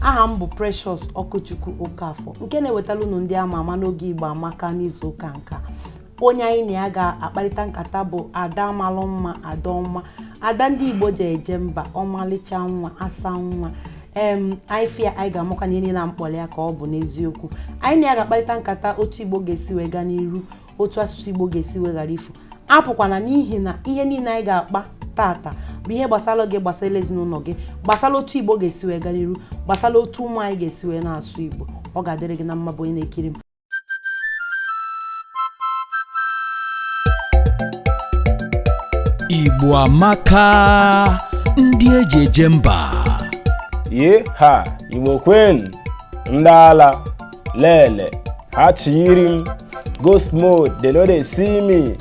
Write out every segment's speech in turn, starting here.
aha m bụ Precious Ọkụchukwu Okafọ nke na-ewetara unu ndị ama ama n'oge Igbo Amaka n'izu ụka nka onye anyị na ya ga-akparịta nkata bụ Ada malụ mma Ada ọma Ada ndị Igbo ji eje mba ọmalịcha nwa asa nwa em anyị fụ ya anyị ga-amata na ihe niile na m kpọrọ ya ka ọ bụ n'eziokwu anyị na ya ga-akparịta nkata otu Igbo ga-esi wee gaa n'iru otu asụsụ Igbo ga-esi wee ghara ifu apụkwana n'ihi na ihe niile anyị ga-akpa taata bụ ihe gbasara gị gbasara ezinụlọ gị gbasara otu Igbo ga-esi wee gaa n'iru gbasara otu ụmụ anyị ga-esi wee na-asụ Igbo ọ ga-adịrị gị na mma bụ onye na-ekiri m Igbo amaka ndị eji eje mba ye ha Igbo kwenu ndị ala lele ha chiyiri m ghost mode they no dey see me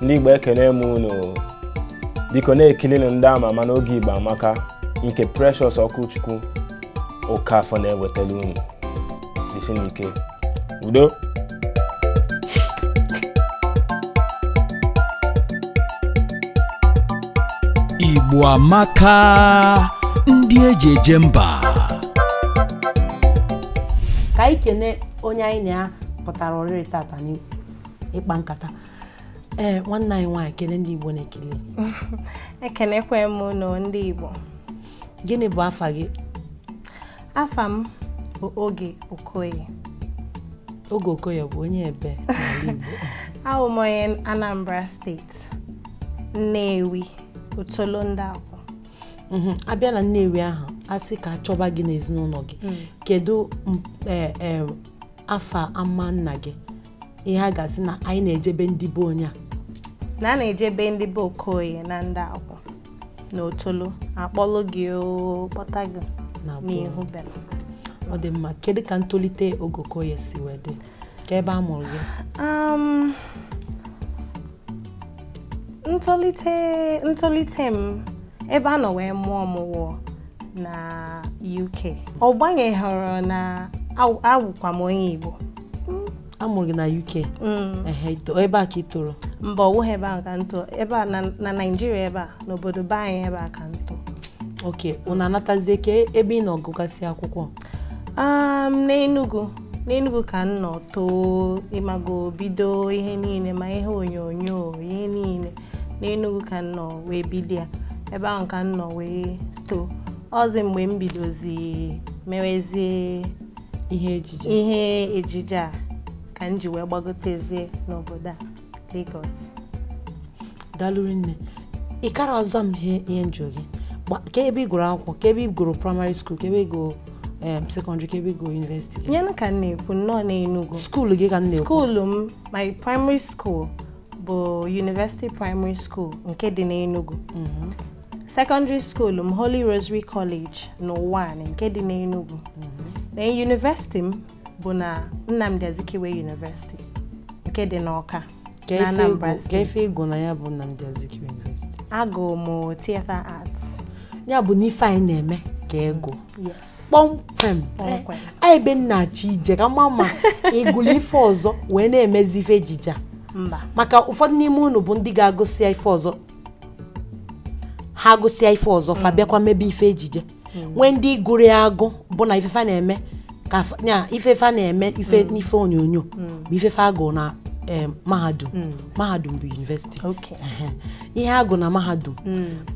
ndị Igbo ekene m unu biko na-ekilinụ ndị ama ama n'oge Igbo amaka nke Precious Ọkụchukwu Okafọ na-ewetara unu jisinụ ike udo Igbo amaka ndị eji eje mba ka anyị kene onye anyị na ya pụtara oriri taata n'ịkpa nkata ee nwanne anyị nwaanyị kene ndị Igbo na-ekiri ekenekwa m unu ndị Igbo gịnị bụ afa gị afa m bụ Oge Okoye Oge Okoye bụ onye ebe n'ala Igbo awụ m onye Anambra steeti Nnewi Otolo ndị mhm. a bịa na Nnewi ahụ a sị ka a chọba gị n'ezinụlọ gị mm. kedu e, e, afa ama nna gị ihe a ga-asị na anyị na-ejebe ndị be onye a na a na-ejebe ndị be Okoye na Ndịakwụ na Otolo a kpọlụ gị kpọta gị n'ihu be m ọ dị mma kedu ka ntolite Oge Okoye si wee dị ka ebe a mụrụ gị um, ntolite ntolite m ebe a nọ wee mụọ m wụ na UK ọ gbanyeghọrọ na awụkwa m onye Igbo a mụrụ gị na UK mm. ebe a ka ị toro mba ọ wụghị ebe a ka m too ebe a na Naịjirịa ebe a n'obodo be anyị ebe a ka m too okay unu anatazie kee ebe ị nọ gụgasịa akwụkwọ um, n'Enugu n'Enugu ka m nọ too ị mago bido ihe niile ma ihe onyonyo ihe niile n'Enugu ka m nọ wee bido ya ebe ahụ ka m nọ wee too ọzi mgbe m bidozi mewezie ihe ejije a ka m ji wee gbagotezie n'obodo a Lagos daalụ rinne ị kara ọzọ m ihe ihe njụ gị ka ebe ị gụrụ akwụkwọ ka ebe ị gụrụ praịmarị skuul ka ebe ị gụrụ sekọndịrị ka ebe ị gụrụ yunivesiti gị nyenụ ka m na-ekwu nnọọ n'Enugu skuul gị ka m na-ekwu skuulu m my primary school bụ University Primary School nke dị n'Enugu mhm. secondary school m Holy Rosary College n'Uwani nke dị n'Enugu mhm. na yunivesiti m bụ na Nnamdi Azikiwe University nke dị n'Ọka na Anambra Ka Steeti ife ị gụ na ya bụ Nnamdi Azikiwe University. agụụ m theatre arts Ya bụ na ife a ị na-eme ka ị gụ. yes Kpọmkwem. Kpọmkwem. A ebe m na-achọ ije ka m ma ma ị gụlụ ife ọzọ wee na-emezi ife ejije a. mba maka ụfọdụ n'ime unu bụ ndị ga-agụsịa ife ọzọ ha agụsịa ife ọzọ fa bịakwa mebe ife ejije nwee ndị gụrụ ya agụ bụ na ife fa na-eme ka fa- ya ife fa na-eme ife n'ife onyonyo bụ ife fa gụ na em, mahadum mahadum bụ yunivesiti Okay. Ehe. ihe a gụ na mahadum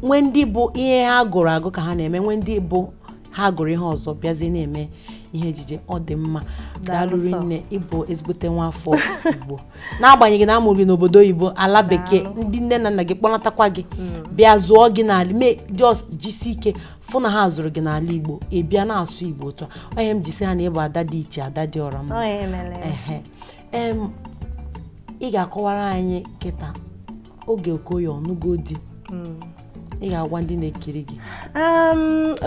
nwee ndị bụ ihe ha gụrụ agụ ka ha na-eme nwee ndị bụ ha gụrụ ihe ọzọ bịazie na-eme ihe ejije ọ dị mma Daalụ daalụ sọ. rinne ị bụ ezigbote nwa afọ igbo n'agbanyeghị na a mụrụ gị n'obodo oyibo ala bekee ndị nne na nna gị kpọnatakwa gị mm. bịa zụọ gị n'ala mee just jisi ike fụ na ha zụrụ gị n'ala igbo ị bịa na-asụ igbo otu a ọ ihe m ji sị ha na ị bụ ada dị iche ada dị ọra mma ị ga-akọwara anyị kịta Oge Okoye ọ nụgo di mm. ị ga-agwa ndị na-ekiri gị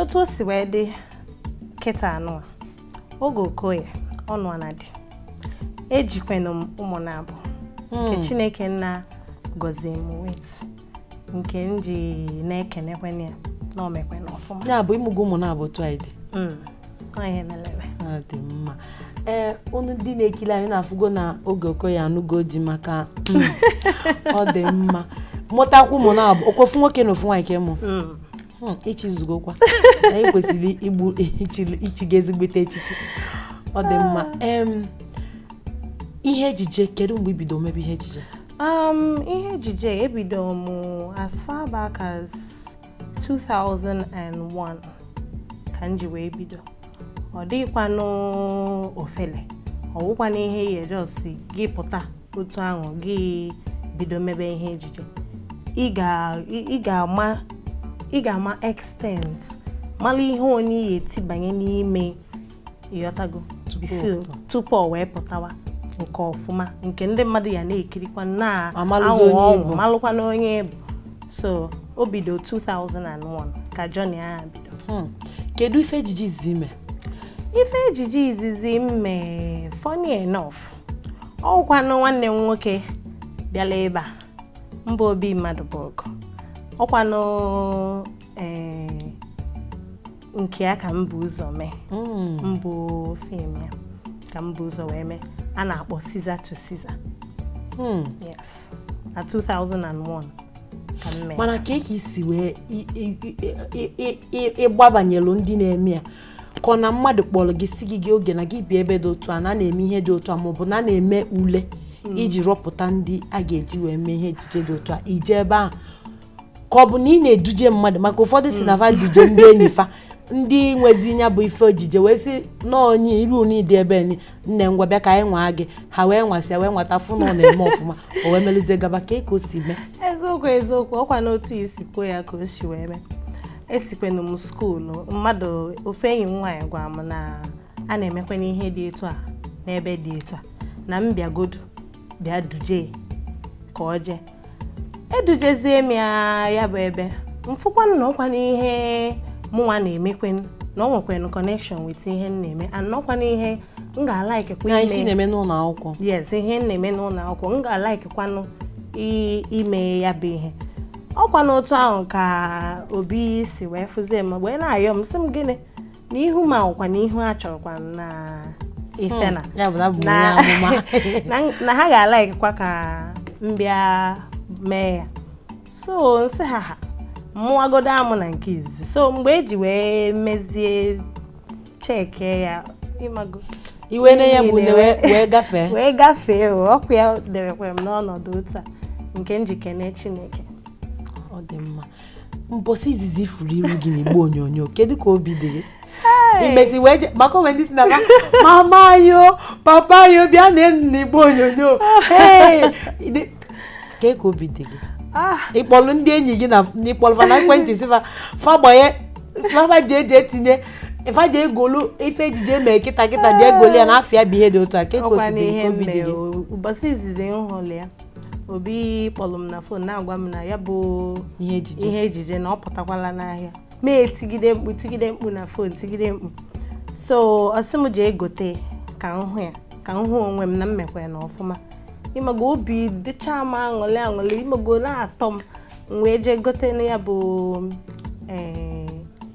otu o si wee dị kịta anụ Oge Okoye anụọna di ejikwanụ m ụmụ naabọ hmm. nke chineke nna gọzie m with nke m ji na-ekenekwanụ ya na o mekwana ọfụma ya bụ ị mụgo ụmụ naabọ twaide hmm. ihe melere dị mma ee eh, unu ndị na-ekiri anyị na-afụgo na Oge Okoye anụgo di maka hmm, ọ dị mma mụtakwu ụmụ naabọ ọ kwa ofu nwoke na ofu nwaanyị ka ị mụ hmm, ị chizugokwa anyị kwesịrị igbu ichi gị ezigbote echichi ọ dị mma ihe ejije kedu mgbe i bido mebe ihe ejije um, ihe ejije ebido m as far back as 2001 ka m ji wee bido ọ dịghịkwanụ ofele ọ wụkwana ihe ị ya just gị pụta otu ahụ gị bido mebe ihe ejije ị ga-ama ị ga-ama extent mara ihe onye ya-etibanye n'ime ịghọtago tupu ọ wee pụtawa nke ọfụma nke ndị mmadụ ya na-ekirikwa na-awụ ọnwụ malụkwa na onye bụ so o bido 2001 ka journey ahụ bido hmm. kedu ife ejije izizi i me ife ejije izizi m me funny enough ọkwanụ nwanne m nwoke bịala ebe a mbụ Obi Madubogwu ọkwanụ eh, nke ya ka m bu ụzọ mee hmm. mbụ fim ya ka m bu ụzọ wee mee a na-akpọ Caesar to Caesar hmm. yes na 2001 mana kee ka i si wee ị gbabanyelu ndị na-eme ya ka ọ na mmadụ kpọlọ gị sị gị gị Oge na gị bịa ebe dị otu a na a na-eme ihe dị otu a maọbụ na a na-eme ule hmm. iji rọpụta ndị a ga-eji wee mee ihe ejije dị otu a i je ebe ahụ ka ọ bụ na ị na-eduje mmadụ maka ụfọdụ sị na va hmm. duje ndị enyi fa ndị nwezi ya bụ ife ejije wee sị na onye iru n'ịdị ebe enyi nne ngwa bịa ka anyị nwaa gị ha wee nwasịa wee nwata fụ na ọ na-eme ọfụma o wee meluzie gaba kee ka o si mee eziokwu eziokwu ọkwa n'otu i si kwuo ya ka o si wee mee esikwenụ m skuulu mmadụ ofu enyi m nwaanyị gwara m na a na-emekwana ihe dị etu a n'ebe dị etu a na m bịagodu bịa duje ka o jee edujezie m ya ya bụ ebe m fụkwanụ na ọkwanụ ihe mụnwa na-emekwen na o nwekwen connection with ihe m na-eme and ọkwanụ ihe m ga-alaiki kwa ime ihe na-eme n'ụlọ akwụkwọ yes ihe m na-eme n'ụlọ akwụkwọ m ga-alaiki kwanụ ime ya bụ ihe ọkwanụ otu ahụ ka Obi si wee fụzie m wee na-ayọ m sị m gịnị n'ihu m ọkwanụ ihu a chọrọkwa na ifena hmm, na ha ga-alaikwa ka m bịa mee ya so m sị ha ha mụwagodo amụ na nke izizi so mgbe e ji wee mezie cheki ya ịmago iwe na ya bụ wee gafee wee gafee ọkwa ya debekwere m n'ọnọdụ otu a nke m ji ekene Chineke ọ dị mma mbọsị izizi ị fụrụ iru gị n'igbe onyonyo kedu ka obi dị gị i mesi wee je maka o nwe ndị sị na mama yo papa yo bịa neenụ n'igbe onyonyo kee ka obi dị gị ah. ị kpọlụ ndị enyi gị na ị kpọlụ fa na ekwentị sị fa fa gbanye fa ji eji etinye ifa jee golu ife ejije eme kịta kịta jee golu ya na afịa ya bụ ihe dị otu a kee ka o si dị obi dị gị ụbọchị izizi m hụrụ ya Obi kpọlọ m na fon na-agwa m na ya bụ ihe ejije na ọ pụtakwala n'ahịa m etigide mkpu tigide mkpu na fon tigide mkpu so ọ sị m jee gote ka m hụ ya ka m hụ onwe m na m mekwa ya na ọfụma ịmago obi dịcha m aṅụlị aṅụlị ịmago na-atọ m m wee jee gote ya bụ ee eh,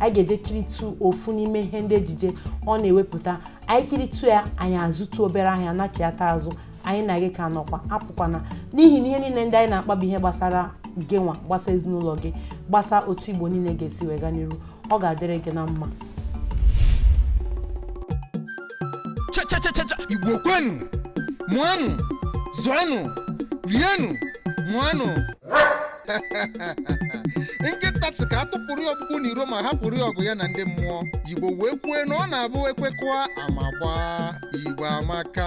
anyị ga-eje kiritụ ofu n'ime ihe ndị ejije ọ na-ewepụta anyị kiritụ ya anyị azụtụ obere ahịa nachiata azụ anyị na gị ka nọkwa apụkwana n'ihi na ihe niile ndị anyị na-akpa bụ ihe gbasara gịnwa gbasa ezinụlọ gị gbasa otu igbo niile ga-esi wee ga n'iru ọ ga-adịrị gị na mma chachachachacha igbo kwenu mụanụ zụanụ rienụ ṅụanụ nkịta sị ka atụpụrụ ya ọkpụkpụ n'iro ma hapụrụ ya ọgụ ya na ndị mmụọ igbo wee kwue na ọ na-abụ ekwekọa ama gbaa igbo amaka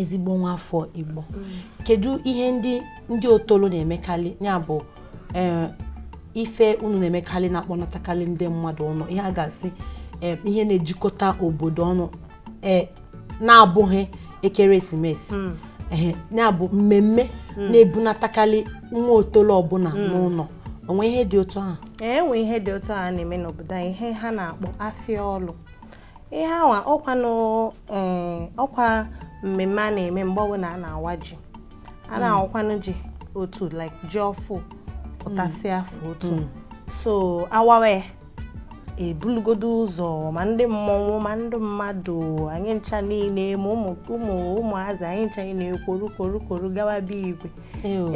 ezigbo nwa afọ Igbo kedu ihe ndị ndị otolo na-emekarị ya bụ eh, ife unu na-emekarị na-akpọnatakarị ndị mmadụ ọnụ ihe a ga-asị eh, ihe na-ejikọta obodo ọnụ e, na-abụghị ekeresimesi hmm. ehe na-abụ mmemme hmm. na-ebunatakarị nwa otolo ọbụla hmm. n'ụlọ o nwe ihe dị otu ahụ enwe ihe dị otu ahụ na-eme n'obodo anyị ihe ha na-akpọ afịa ọlụ ihe awa ọkwa e, ọkwa mmemme a na-eme mgbe ọbụla a na-awa ji a na-awakwanụ ji otu like ji ọfụụ pụtasịa afọ otu so awawe ebulugodo ụzọ ma ndị mmọnwụ ma ndị mmadụ anyị ncha niile ma ụmụ ụmụ ụmụazị anyị ncha niile kworu kworu kworu gawa be igwe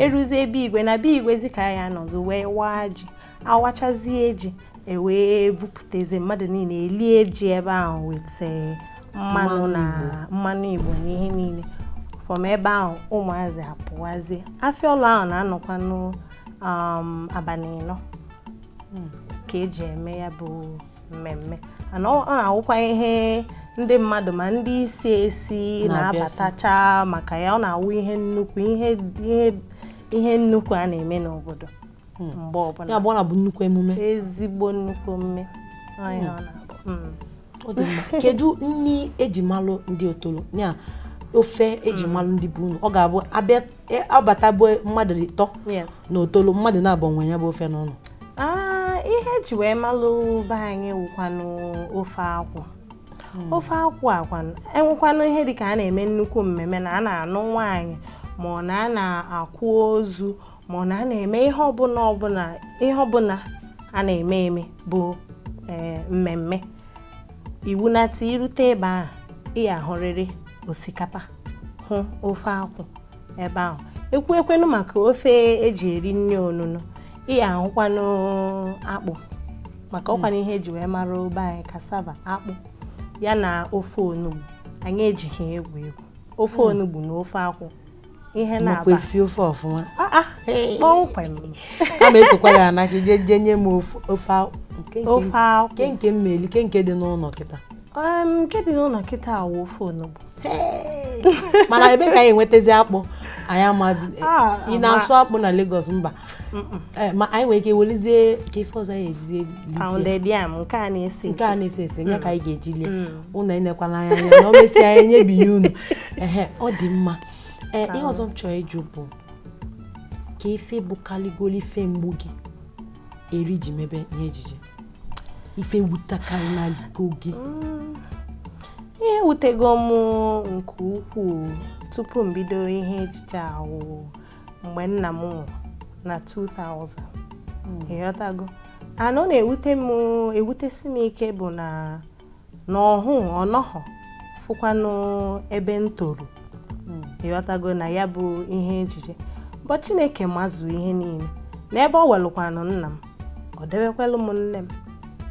eruzie be igwe na be igwe zi ka a ya-anọzị wee waa ji awachazie ji ewee bupụtazi mmadụ niile elie ji ebe ahụ weta eh, mmanụ na mmanụ igbo na ihe niile from ebe ahụ ụmụazị apụwazie afịa ọlụ ahụ na-anọkwanụ um, abalị ịnọ hmm. ka eji eme ya bụ mmemme ana ọ na-awụkwa ihe ndị mmadụ ma ndị isi esi na-abatacha maka ya ọ na-awụ ihe nnukwu ihe ihe nnukwu a na-eme n'obodo hmm. mgbe ọbụla ya bụ ọ na-abụ nnukwu emume ezigbo nnukwu emume hmm. kedu nri eji malụ ndị otolo na ofe eji malụ ndị bụ unu ọ ga-abụ abịa e, ọ bata be mmadụ ịtọ na otolo mmadụ naabọ nwe ya bụ ofe n'ụlọ ah, ihe eji wee malụ be anyị wụkwanụ ofe akwụ hmm. ofe akwụ akwanụ enwekwanụ ihe dịka a na-eme nnukwu mmemme na a na-anụ nwaanyị ma ọ na a na-akwa ozu ma ọ na a na-eme ihe ọbụla ọbụla ihe ọbụla a na-eme eme bụ eh, mmemme iwu na-ata i rute ebe ahụ ị ya-ahụrịrị osikapa hụ ofe akwụ ebe ahụ ekwuekwanụ maka ofe eji eri nri onunu ị ya-ahụkwanụ akpụ maka ọkwanụ ihe eji wee mara be anyị cassava akpụ ya na ofe onugbu anyị ejighị egwu egwu ofe hmm. onugbu na ofe akwụ ị makwa esi ofe ọfụma ah, ah, kpọmkwem ama m esikwa ya na gị jee jee nye m ofe ofe akwụ ke nke mmeli ke nke dị n'ụlọ kịta nke dị n'ụlọ kịta awụ ofe onugbu mana ebee ka anyị enwetazi akpụ anyị amazi ah, ị na-asụ akpụ na Lagos mba eh, ma anyị nwere ike welizie ka ife ọzọ ya ejizie pounded yam nke a na-ese nke a na-ese ese nye ka anyị ga-eji lie ụnụ enekwana anya anya na o mesịa anyị enyebi ya unu ehe ọ dị mma ee ihe ọzọ m chọrọ ịjụ bụ ke ife bụkalịgolo ife mgbu gị eri i ji mebe ihe ejije ife wutakarịnago gị ihe wutego m nke ukwuu tupu m bido ihe ejije ahụ mgbe nna m nwụrụ na 2000 hmm. ịghọtago and ọ na-ewute m ewutesi m ike bụ na ọ hụ ọ nọhọ fụkwanụ ebe m toro hmm. ịghọtago na ya bụ ihe ejije but chineke mazu ihe niile na ebe o welukwanụ nna m ọ debekwalụ m nne m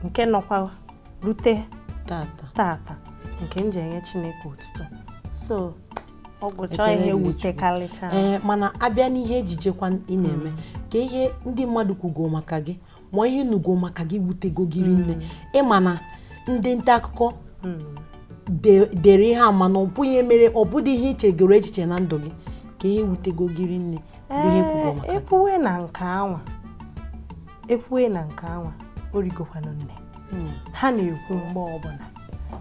nke nọkwa rute tata nke m ji enye chineke otuto so ee mana a bịa n'ihe ejijekwa ị na-eme ka ihe ndị mmadụ kwugo maka gị ma ihe ị nụgo maka gị wutego gị rinne hmm. ị ma na ndị nta akụkọ hmm. dere ihe ị ma na ọ bụghị ihe mere ọ bụdị ihe i chegoro echiche na ndụ gị ka ihe wutego gị rinne e kwuwe na nke anwa e kwuwe na nke anwa o rigokwanụ nne hmm. ha na-ekwu mgbe ọbụla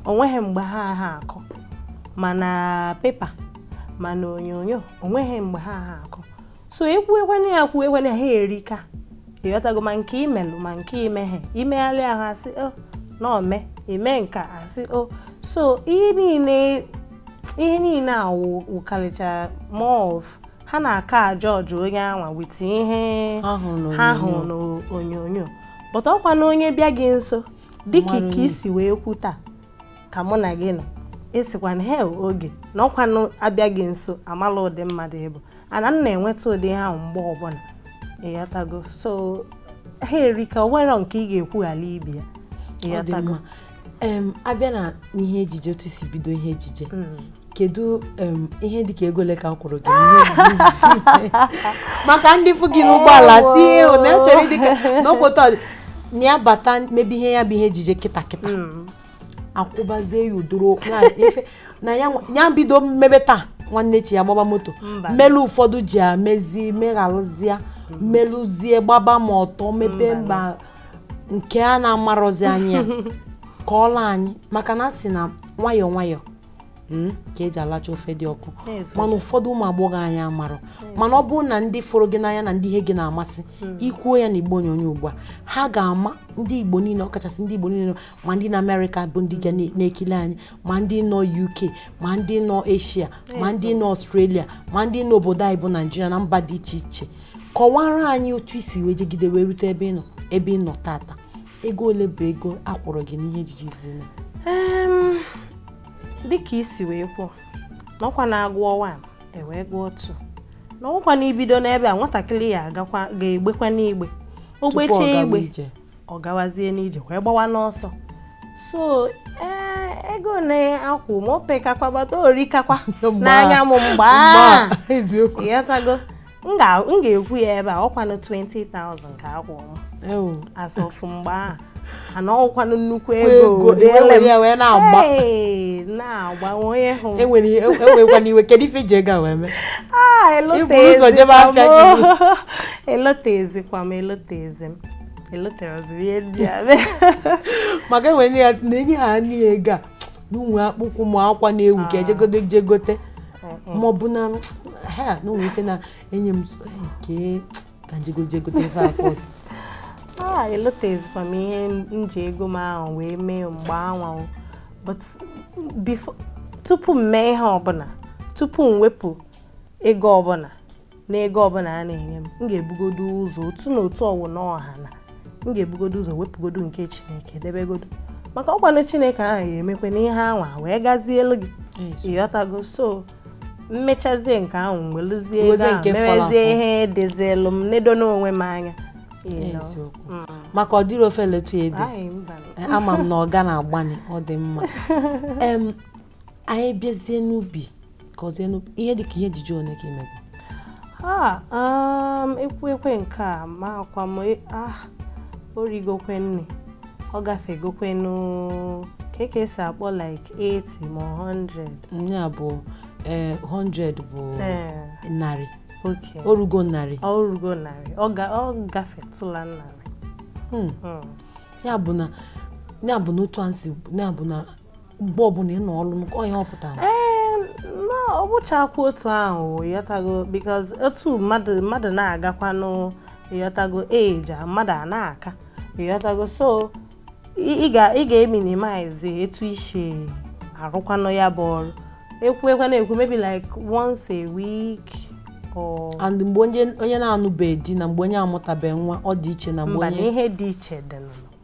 o nweghị mgbe ha ha akọ ma na pepa ma na onyonyo o nweghị mgbe ha ha akọ so ekwuekwana ya kwuekwana ha erika ịghọtago ma nke i melu ma nke i meghị i megharịa ahụ a sị o oh, na o mee i mee nke a a sị o oh. so ihe niile ihe niile a wụkarịcha more of ha na-aka a-judge onye anwa with ihe ha hụrụ n'onyonyo but ọkwanụ onye bịa gị nso dịka ike i si wee kwu taa ka mụ na gị nọ ị sịkwa na hei Oge na ọkwanụ a bịa gị nso a mala ụdị mmadụ ị bụ ana m na-enweta ụdị ihe ahụ mgbe ọbụla ịghọtago so ha erika o nwere nke ị ga-ekwughala ibe ya ịghọtago a bịa na ihe ejije otu i si bido ihe ejije hmm. kedu ihe dịka ego ole ka a kwụrụ gị maka ndị fụ gị n'ụgbọala sị ịhụ na echere dịka n'okwota na ya bata mebe ihe ya bụ ihe ejije kịta kịta hmm. a kwụbazie ya udoro na ya bido mebe taa nwanne echi ya gbaba moto melu ụfọdụ ji amezi megharụzie melụzie hmm. gbaba moto mebe mba nke a na-amarọzi anya ka ọla anyị maka na a sị na nwayọọ nwayọọ hmm, ka e ji alacha ofe dị ọkụ mana ụfọdụ ụmụ agbọghọ anyị amarọ mana ọ bụrụ na ndị fụrụ gị n'anya na ndị ihe gị na-amasị hmm. i kwuo ya na igbo onyonyo ugbu a ha ga-ama ndị igbo niile ọkachasị ndị igbo niile ma ndị nọ amerịka bụ ndị ga na-ekili anyị ma ndị nọ uk ma ndị nọ eshia ma ndị nọ ọstrelia ma ndị nọ obodo anyị bụ naijiria na mba dị iche iche kọwara anyị otu i si wee jegide wee rute ebe ị nọ ebe ị nọ tata ego ole bụ ego a kwụrụ gị n'ihe ejije izizi i me dịka i si wee kwuo na ọkwa na a gụọ one e wee gụọ two na ọkwa na ibido n'ebe a nwatakịrị ya agakwa ga-egbekwa n'igbe o gbechee igbe ọ gawazie n'ije wee gbawa n'ọsọ so ee ego a na-akwụ m o pekakwa but o rikakwa n'anya m mgbe a ị ghọtago m ga-ekwu ya ebe a ọkwanụ 20,000 ka a kwụrụ m as of mgbe ahụ and ọkwanụ nnukwu ego na mgbe anwa ahụ ewekwana iwe kedu ife i ji ego a wee mee ah, i bu ụzọ jebe afịa gị elotezikwa m elotezi m eloterọzi m ihe ndị a maka e nwe ndị ya na e nye ha anya ego a na o nwe akpụkwụ ma akwa na-ewu ka e jegodo je gote ma ọ bụ na ha na o nwe ife na-enye m nke ka m jegodo je gote ife a first a elotezikwa m ihe m ji ego m ahụ wee mee mgbe anwa but tupu m mee ihe ọbụla tupu m wepụ ego ọbụla n'ego ọbụla a na-enye m m ga-ebugodo ụzọ otu na otu ọwụna ọ hana m ga-ebugodo ụzọ wepụgodo nke chineke debegodo maka ọkwanụ chineke ahụ ga-emekwa na ihe anwa wee gazielu gị ị ghọtago so m mechazie nke ahụ m weluzie ego ahụ merezie ihe dịzielu m nedo n'onwe m anya Mm. maka ọ dịrị ofe letu ede eh, ama m na ọ ga na-agbani ọ dị mma anyị bịazie n'ubi kọzienụ ihe dịka ihe ejije one ka i mego ha um, ekwu ekwe nke a amakwa m e, ah, o rigokwe nne ọ gafegokwenụ ka ka e si akpọ like 80 ma 100 ya bụ 100 eh, bụ eh. narị o rugo narị o rugo narị ọ gafetụla narị hmm. Hmm. ya bụ na ya bụ na otu a si ya bụ na mgbe ọbụla ị nọ ọrụ onye ọ pụtara ọ bụchakwa otu ahụ yọtago because otu mmadụ mmadụ na-agakwanụ yọtago age mmadụ a na-aka yọtago so ị ga-eminimize etu i si arụkwanụ ya bụ ọrụ ekwuekwana ekwu maybe like once a week and mgbe onye na-anụbeghị di na mgbe onye amụtabeghị nwa ọ dị iche na mgbe onye ihe dị iche dị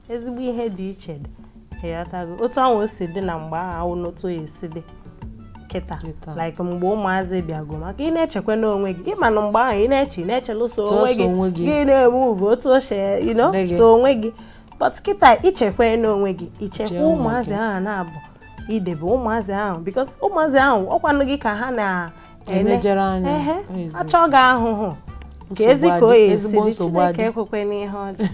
ezigbo ihe dị iche dị ịghọtago otu ahụ o si dị na mgbe ahụ na otu o si dị kịta Kịta. like mgbe ụmụazị bịago maka ị na-echekwa n'onwe gị ịma na mgbe ahụ ị na-eche ị na-echelụ sọ Sọọ onwe sọ onwe gị gị. gị na-eme ihe otu o si you know, Dị gị. sọ onwe gị but kịta ichekwa n'onwe gị ichekwa Chee ụmụ ụmụazị gị. ahụ na-abụ idebe ụmụazị ahụ because ụmụazị ahụ ọ kwanụ gị ka ha na elejere anya achọ gị ahụhụ ka ezi ka o esi dị Chineke ekwekwana ihe ọ dị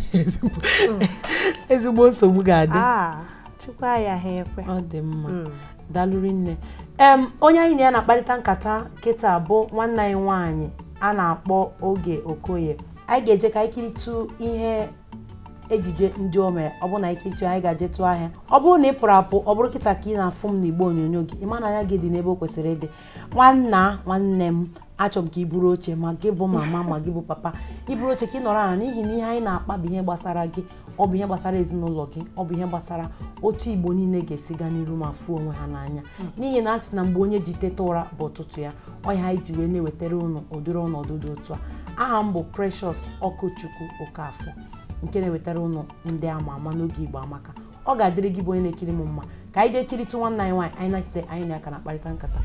ezigbo nsogbu ga-adị ah, Chukwu ayaghị ekwe ọ dị mma hmm. dalụ rinne em onye anyị na ya na-akparịta nkata kịta bụ nwanne anyị nwaanyị a na-akpọ Oge Okoye anyị ga-eje ka anyị kiritụ ihe ejije ndị o mere ọ bụrụ na e kiritụ anyị ga-ejetụ ahịa ọ bụrụ na ị pụrụ apụ ọ bụrụ kịta ka ị na-afụ m n'igbe onyonyo gị ịma na anya gị dị n'ebe o kwesịrị ịdị nwanna nwanne m achọrọ m ka i buru oche ma gị bụ mama ma gị bụ papa i buru oche ka ị nọrọ ala n'ihi na ihe anyị na-akpa bụ ihe gbasara gị ọ bụ ihe gbasara ezinụlọ gị ọ bụ ihe gbasara otu igbo niile ga-esi gaa n'iru ma fụ onwe ha n'anya hmm. n'ihi na a sị na mgbe onye ji teta ụra bụ ụtụtụ ya ọ ya anyị ji wee na-ewetara ụnụ ụdịrị ọnọdụ dị otu a aha m bụ Precious Okwuchukwu Okafọ nke na-ewetara ụnụ ndị ama ama n'oge Igbo Amaka ọ ga-adịrị gị bụ onye na-ekiri m mma ka anyị jee kiritụ nwanne anyị nwaanyị anyị nachite anyị na ya ka na-akparịta nkata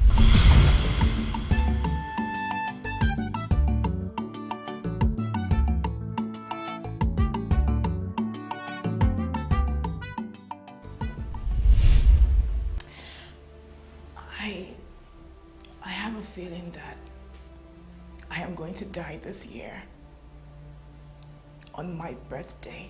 die this year on my birthday.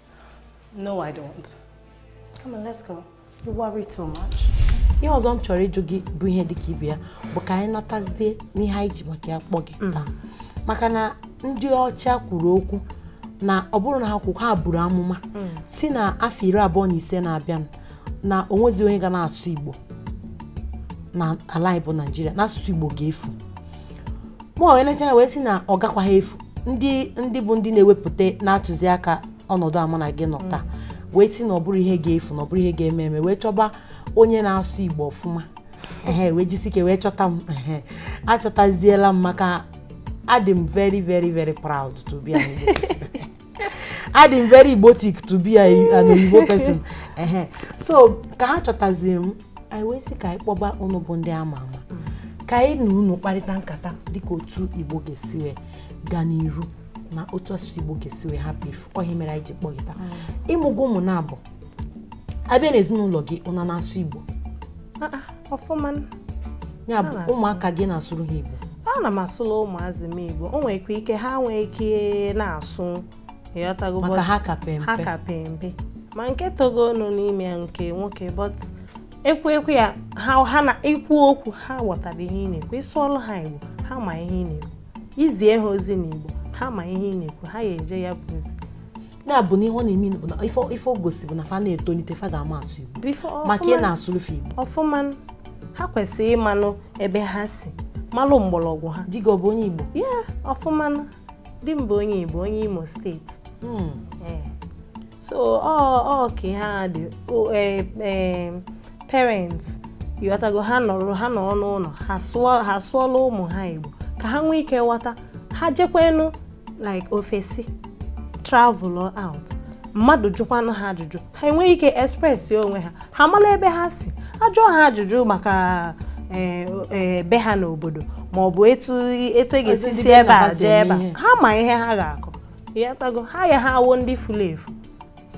No, I don't. Come on, let's go. You worry too much. ihe ọzọ m chọrọ ịjụ gị bụ ihe dịka ibe ya bụ ka anyị natazie n'ihe anyị ji maka ya kpọ gị mm. taa maka na ndị ọcha kwuru okwu na ọ bụrụ na ha kwu ha buru amụma mm. si na afọ iri abụọ na ise na-abịanụ na o nwezi onye ga na-asụ Igbo na ala anyị bụ Naịjirịa na asụsụ Igbo ga-efu mụ wee lecha wee sị na ọ gakwaghị efu ndị ndị bụ ndị na-ewepụta na-atụziaka ọnọdụ a mụ na gị nọ mm. taa wee sị na ọ bụrọ ihe ga-efu na ọ bụrọ ihe ga-eme eme wee chọba onye na-asụ Igbo ọfụma ehe wee jisi ike wee chọta m ehe achọtaziela m maka adị m very very very proud to be an Igbo adị m very igbotic to be an Igbo person ehe so ka ha chọtazi m anyị wee sị ka anyị kpọba ụnụ bụ ndị ama ama ka anyị na unu kparịta nkata dịka otu igbo ga-esi wee gaa n'iru na otu asụsụ igbo ga-esi wee hapụ ifu ọ ihe mere anyị ji kpọ gị taa ị mụgo ụmụ na-abụ a bịa n'ezinụlọ gị ụnụ ana-asụ igbo ọfụma ya bụ ụmụaka gị ị na-asụrụ ha Igbo ana m asụla ụmụazị m Igbo o nwekwa ike ha nwee ike na-asụ maka ha ka pe mpe ma nke togonụ n'ime ya nke nwoke but ekwu ekwu ya ha na i kwuo okwu ha ghọtara ihe ị na-ekwu ị sụọlụ ha Igbo ha ma ihe ị na-ekwu i zie ha ozi n'Igbo ha ma ihe ị na-ekwu ha ya-eje ya bụ ozi na-abụ na ihe ọ na-eme bụ na ife ife o gosi bụ na fa na-etolite fa ga-ama asụ Igbo ọfụma maka ị na-asụlụ fa Igbo ọfụma ha kwesịrị ịmanụ ebe ha si malụ mgbọrọgwụ ha di gị ọ bụ onye Igbo ya ọfụma di m bụ onye Igbo onye Imo steeti Hmm. Ee. so ọ ọ ka ihe a dị O, eh, eh, parents ị ghọtago ha nọrọ ha nọrọ n'ụlọ ha sụọ ha sụọla ụmụ ha Igbo ka ha nwee ike ghọta ha jekwanụ like ofesi travel out mmadụ jụkwanụ ha ajụjụ ha enwee ike express onwe ha ha mala ebe ha si ajụọ ha ajụjụ maka eh, eh, be ha n'obodo ma ọ bụ etu etu e ga-esi si ebe a jee ebe a ha ma ihe ha ga-akọ ị ghọtago ha ayaha awụ ndị fulu efu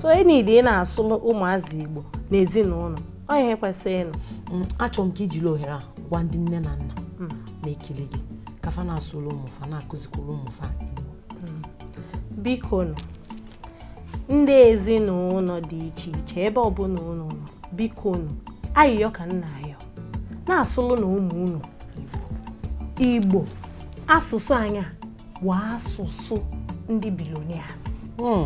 so e needi ị na-asụlụ ụmụazị Igbo n'ezinụnọ ọ ihe kwesịrị nụ mm, achọrọ m ka i jiri ohere a gwa ndị nne na nna mm. na-ekiri gị ka fa na-asụlụ ụmụfa na-akụzikwuru ụmụfa mm. biko nụ ndị ezinụnọ dị iche iche ebe ọbụla unu nọ biko nụ ayịyọ ka m na-ayọ na-asụlụnụ ụmụ unu Igbo asụsụ anyị a bụ asụsụ ndị billionaires hmm.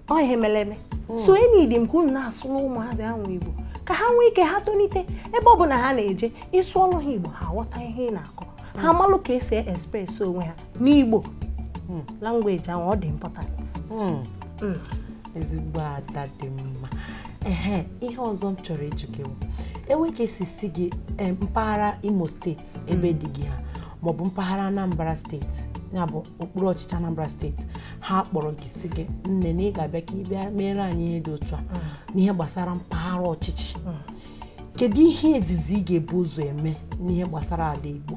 ọ ihe mere eme hmm. so e needi m ka unu na-asụla ụmụazị ahụ Igbo ka ha nwee ike ha tolite ebe ọ bụla ha na-eje ị sụọrụ ha Igbo ha ghọta ihe ị na-akọ ha malụ ka e si express onwe ha n'Igbo hmm. language ahụ ọ dị important hmm. Hmm. ezigbo ada dị mma ihe ọzọ m chọrọ ịjụ gị bụ e nwee ka e si sị gị eh, mpaghara Imo steeti ebe di gị ha maọbụ mpaghara anambra steeti ya bụ okpuru ọchịchị anambra steeti ha kpọrọ gị sị gị nne na ị ga-abịa ka ị bịa meere anyị ihe dị otu a n'ihe gbasara mpaghara ọchịchị kedu ihe izizi ị ga-ebu ụzọ eme n'ihe gbasara ala igbo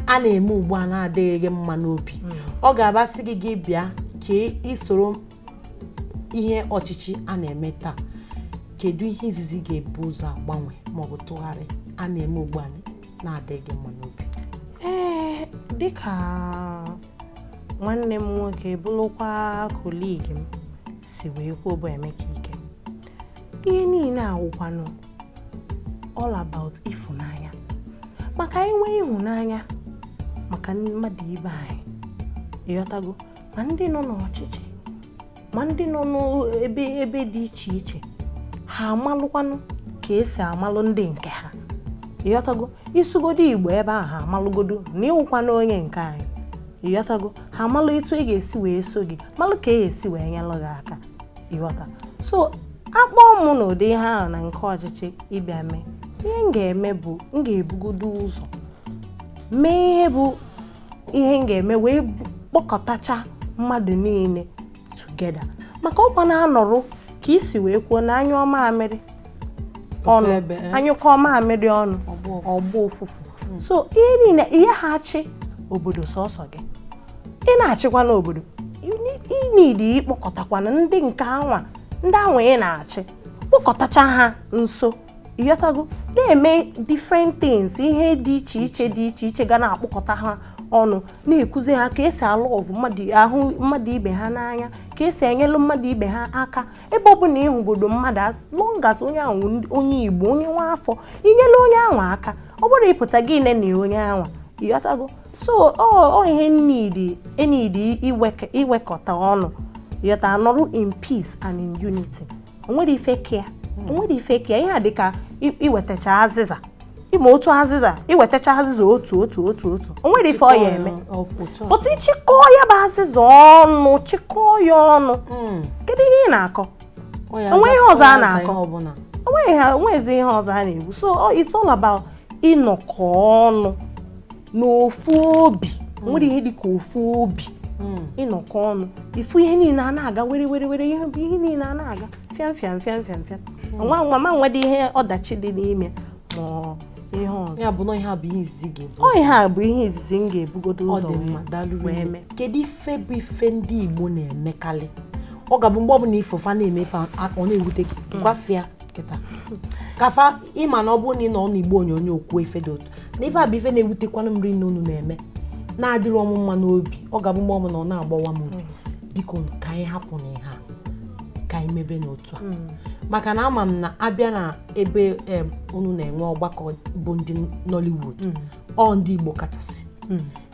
a na-eme ugbu a na-adịghị gị mma n'obi ọ ga-abụ a sị gị gị bịa ka i soro ihe ọchịchị a na-eme taa kedu ihe izizi ị ga-ebu ụzọ agbanwe maọbụ tụgharịa a na-eme ugbu a na-adịghị mma n'obi ee dịka nwanne m nwoke bụrụkwa colleague m si wee kwuo bụ Emeka Ike ihe niile a wụkwanụ all about ịfụnanya maka anyị nwee ịhụnanya maka mmadụ ibe anyị ị ghọtago ma ndị nọ n'ọchịchị ma ndị nọ n'ebe ebe dị iche iche ha amalụkwanụ ka esi amalụ ndị nke ha ịghọtago ịsụgodo igbo ebe ahụ ha amalụgodo na ịwụkwana onye nke anyị ịghọtago ha amalụ etu e ga-esi wee so gị malụ ka e ga-esi wee nyelụ gị aka ịghọta so akpọọ mụ na ụdị ihe ahụ na nke ọchịchị ịbịa mee ihe m ga-eme bụ m ga-ebugodo ụzọ mee ihe bụ ihe m ga-eme wee kpọkọtacha mmadụ niile together maka ọkwa na-anụrụ ka esi wee kwuo na anyụọ maamịrị ọnụ eh? anyụkọọ maamịrị ọnụ ọ gbọọ ụfụfụ hmm. so ihe niile ị yaha achị obodo sọsọ gị ị na-achịkwana obodo ị need ịkpọkọtakwana ndị nke anwa ndị anwa ị na-achị kpọkọtacha ha nso ịghọtago na-eme different things ihe dị iche iche dị iche iche ga na-akpọkọta ha ọnụ na-ekuzi ha ka esi a-love mmadụ ahụ mmadụ ibe ha n'anya ka esi enyelụ mmadụ ibe ha aka ebe ọ bụla ịhụgodo mmadụ as long as onye ahụ ndị- onye igbo onye nwa afọ inyelụ onye anwa aka ọ bụrọ ịpụta gị nenịa onye anwa ịghọtago so ọ ọ ihe nidi enidi iwekọta ọnụ ịghọta nọrụ in peace and in unity onwere ife ka ya onwere ife ka ya ihe a dịka iwetacha azịza ịma otu azịza iwetacha azịza otu otu otu otu onwere ife ọ ya emepụta ịchịkọọ ya bụ azịza ọnụ chịkọọ ya ọnụ hmm. kedu ihe ị na-akọ onwere ihe ọzọ a na-akọ onweghị ha onwezi ihe ọzọ a na-ekwu so it's all about ịnọkọ ọnụ n'ofu obi hmm. nwere ihe dịka ofu obi hmm. ịnọkọ ọnụ ifu ihe niile a na-aga were were were ihe bụ ihe niile a na-aga fịam fịam fịam fịam fịam hmm. ngwa ngwa ma nwedị ihe ọdachi dị n'ime ma ihe ọzọ ya bụ na ihe a bụ ihe izizi ga-ebu ọ ihe a bụ ihe izizi m ga-ebugodo ụzọ wee mee kedu ife bụ ife ndị Igbo na-emekarị ọ ga-abụ mgbe ọ bụla ife fa na-eme ife ọ na-ewute gị gwa fa ya kịta ka fa ịma na ọ bụrụ na ị nọ n'igbe onyonyo kwuo ife dị otu na ife a bụ ife na-ewutekwanụ m rinne unu na-eme na-adịrọ mụ mma n'obi ọ ga-abụ mgbe ọbụla ọ na-agbawa m obi biko nụ, ka anyị hapụnụ ihe a ka anyị mebenụ otu a maka na ama m na abịa na ebe em, unu na-enwe ọgbakọ bụ ndị Nollywood ọ ndị Igbo kachasị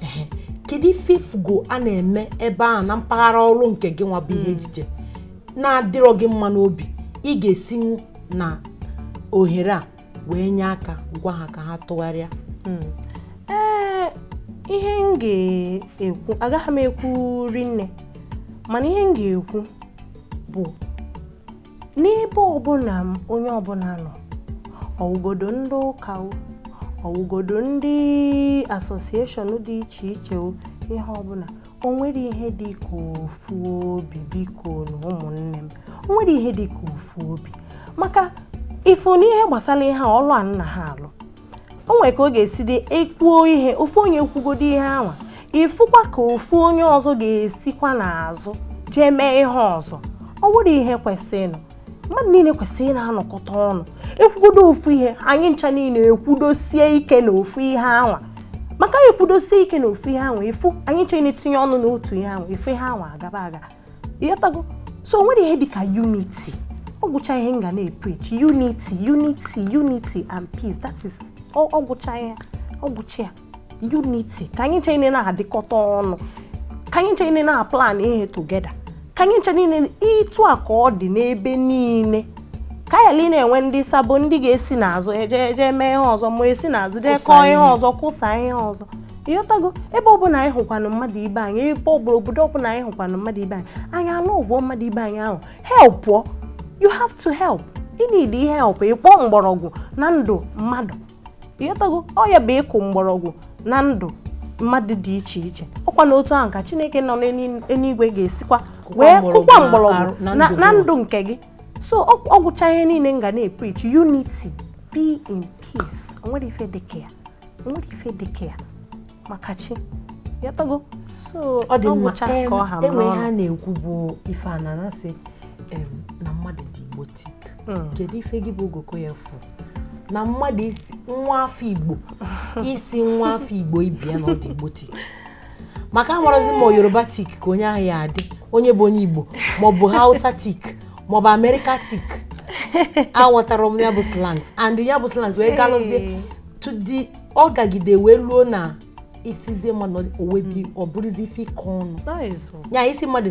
Ehe. kedu ife ifugo a na-eme ebe ahụ na mpaghara ọrụ nke gị nwa bụ ihe ejije na-adịrọ gị mma n'obi ị ga-esinwu na ohere a wee nye aka gwa ha ka ha tụgharịa hmm. ee ihe m ga-ekwu agaghị m ekwu rinne mana ihe m ga-ekwu bụ n'ebe ọbụla onye ọbụla nọ ọwụgodo ndị ụka ọwụgodo ndị association dị iche iche ihe ọbụla o nwere ihe dị ka ofu obi bikonu ụmụnne m o nwere ihe dị ka ofu obi maka ị fụ n'ihe gbasara ihe ọlụ a nna ha alụ o nwere ka ọ ga-esi dị ekwuo ihe ofu onye ekwugodo ihe anwa ị fụkwa ka ofu onye ọzọ ga-esikwa n'azụ jee mee ihe ọzọ ọ bụrọ ihe kwesịrịnụ mmadụ niile kwesịrị ị na-anọkọta ọnụ ekwugodo ofu ihe anyị ncha niile ekwudosie ike na ofu ihe anwa maka anyị ekwudosie ike na ofu ihe anwa ị fụ anyị ncha na-etinye ọnụ na otu ihe anwa ị fụ ihe anwa agaba aga ị ghọtago so o nwere ihe dịka unity ọ gwụcha ihe m ga na-epreach unity unity unity and peace that is ọ gwụcha ihe ọ gwụcha ya unity ka anyị ncha niile na-adịkọta ọnụ ka anyị ncha niile na-aplan ihe together ka anyị ncha niile etu a ka ọ dị n'ebe niile ka anyị na-enwe ndị sabo ndị ga-esi n'azụ eje eje mee ihe ọzọ ma esi n'azụ jee kọọ ihe ọzọ kọsa ihe ọzọ ị ghọtago ebe ọbụla anyị hụkwanụ mmadụ ibe anyị ebe ọbụla obodo ọbụla anyị hụkwanụ mmadụ ibe anyị anyị enyekwuo mmadụ ibe anyị ahụ help you have to help ị na-ede ihe help ịkpọ mgbọrọgwụ na ndụ mmadụ ị ghọtago ọ ya bụ ịkụ mgbọrọgwụ na ndụ mmadụ dị iche iche ọkwanụ otu ahụ ka chineke nọ n'eluigwe ga-esikwa wee kụkwa mgbọrọgwụ na ndụ nke gị so ọ gwụcha ihe niile m ga na-epreach unity be in peace onwere ife dịka ya onwere ife dịka ya maka chi ị ghọtago so ọ dị mma e nwe ihe a na-ekwu bụ ife a na-asị na mmadụ dị igbo tic hmm. kedu ife gị bụ ogoko ya fụ na mmadụ ịsị nwa afọ igbo ịsị nwa afọ igbo ibe ya na ọ dị igbotic maka amarọzi ma yorubatic ka onye ahụ ya-adị onye bụ onye igbo maọbụ hausatic maọbụ americatic aghọtara m ya bụ slangs and ya bụ slangs wee galụzie to the ọ gagide wee ruo na ị sịzie mmadụ o webe ọ bụrụzi ife ịkọ ọnụ ya ị sị mmadụ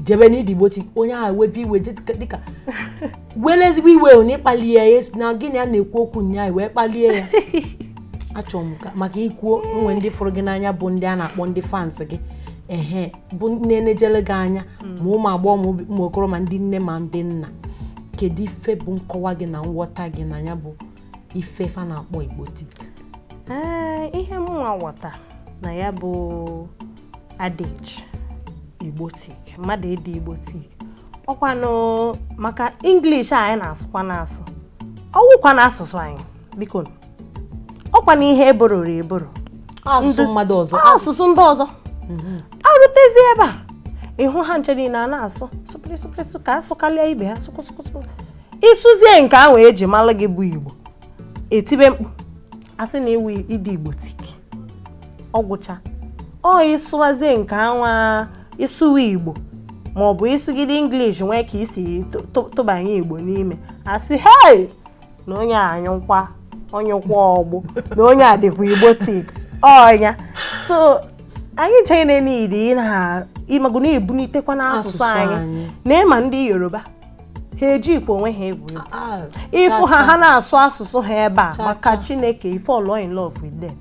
jebe na ị dị igbotic onye ahụ webe iwe dịka were ezigbo iwe na ị kpalie ya na gị na ya na-ekwu okwu ụnyaahụ wee kpalie ya achọrọ m maka ị kwuo nwe ndị fụrụ gị n'anya bụ ndị a na-akpọ ndị fans gị ehe bụ na-enejere gị anya hmm. ma ụmụ agbọghọ ma ụmụ okoro ma ndị nne ma ndị nna kedu ife bụ nkọwa gị na nghọta gị na ya bụ ife fa na-akpọ igbotic ee ihe mụnwa ghọta na ya bụ adage igbotic mmadụ ịdị igbotic ọkwanụ maka english a anyị na-asụkwa na-asụ ọwụkwanụ asụsụ anyị biko ọkwanụ ihe e borrowro eborrow asụsụ mmadụ ọzọ asụsụ ndị ọzọ mhm. arụtezi ebe a ị hụ ha ncha niile a na-asụ sụpịrịsụpịrịsụ ka a sụkalịa ibe ha sụkụsụkụsụ ịsụzie nke ahụ eji mara gị bụ igbo etibe mkpu asị na iwu ịdị igbotic ọ gwụcha ọ ịsụwazie nke anwa ịsụwa igbo ma ọ bụ ịsụgide english nwee ka isi tụbanye igbo n'ime asị hei na onye a wụkwa onye kwọ ọgbụ na onye a dịkwa igbotic ọnya so anyị ncha niile ịmago na-ebunitekwa n'asụsụ anyị na ịma ndị yoruba ha ejikwe onwe ha egwu egwu Ah, ịfụ ha ha na-asụ asụsụ ha ebe a Cha, maka cha. chineke ị fall in love with them